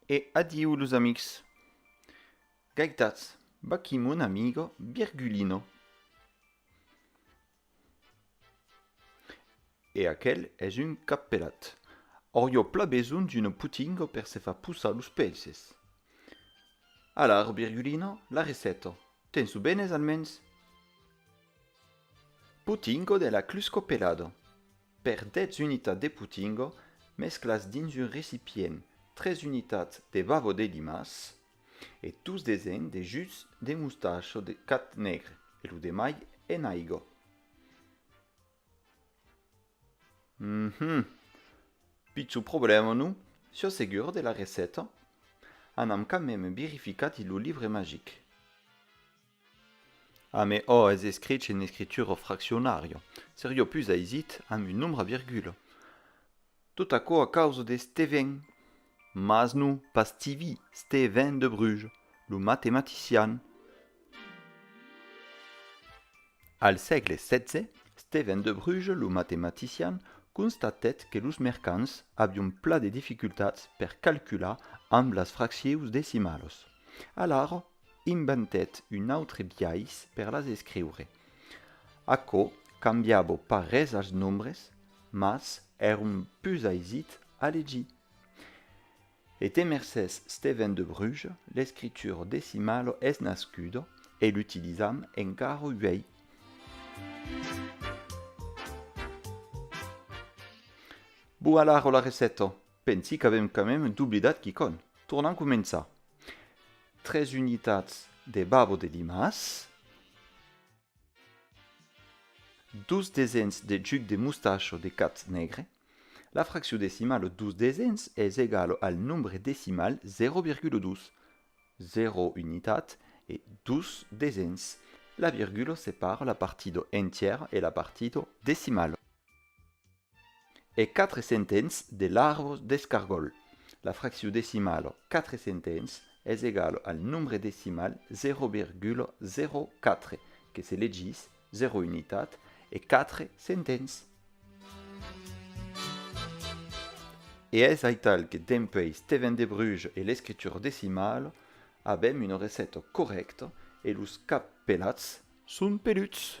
E adiu los amics. Gaitatz, vaquí mon amigo Virgulino. E aquel es un cappelat. Aurio pla besonh d'uno putingo per se far pussar los pelses. Alar, Virgulino, la receta, tens lo benes almens? Putingo de la clusco pelado. Per 10 unitats de potingo, mesclas dins un recipient 3 unitats de bavo de dimàs e tus desens de jus de mostacho de cat negre e lo demai en aigo. Uhmm. Pitjor problèma, non? Siò segur de la receta? Anam quand meme birificar dins lo livre magic. A me ò es escrich en escritura ò fraccionària, seria pus aisit amb un nombre a virgula. Tot aquò a causa de Stevin. Mas non, pas Stivi, Stevin de Bruges, lo matematician. Al sègle xvi, Stevin de Bruges, lo matematician, constatèt que los mercants avián pla de dificultats per calcular amb las fraccius decimalas. Alara Inventèt un autre biais per las escriure. Aquò cambiava pas res als nombres, mas èron pus aisit a legir. E te mercés Stevèn de Bruges, l'escritura decimala es nascuda e l'utilizam encara uèi. Bon alara la receta! Pensi qu'avèm quand même doblidat quicònh. Tornam començar. Tres unitats de babo de limas. Dos desens de juc de mostacho de cat negre. La fraccion decimala de dos desens es egala al nombre decimal 0,2. Zero unitat e dos desens. La virgula separa la partida entièra e la partida decimala. E quatre centens de larvos d'escargòl. La fraccion decimala quatre centens es egala al nombre decimal 0,04, que se legís 0 unitat e quatre centens. E es aital que dempuèi Steven de Bruges e l'escritura decimala avèm una receta corrècta e los cap pelats Son peluts.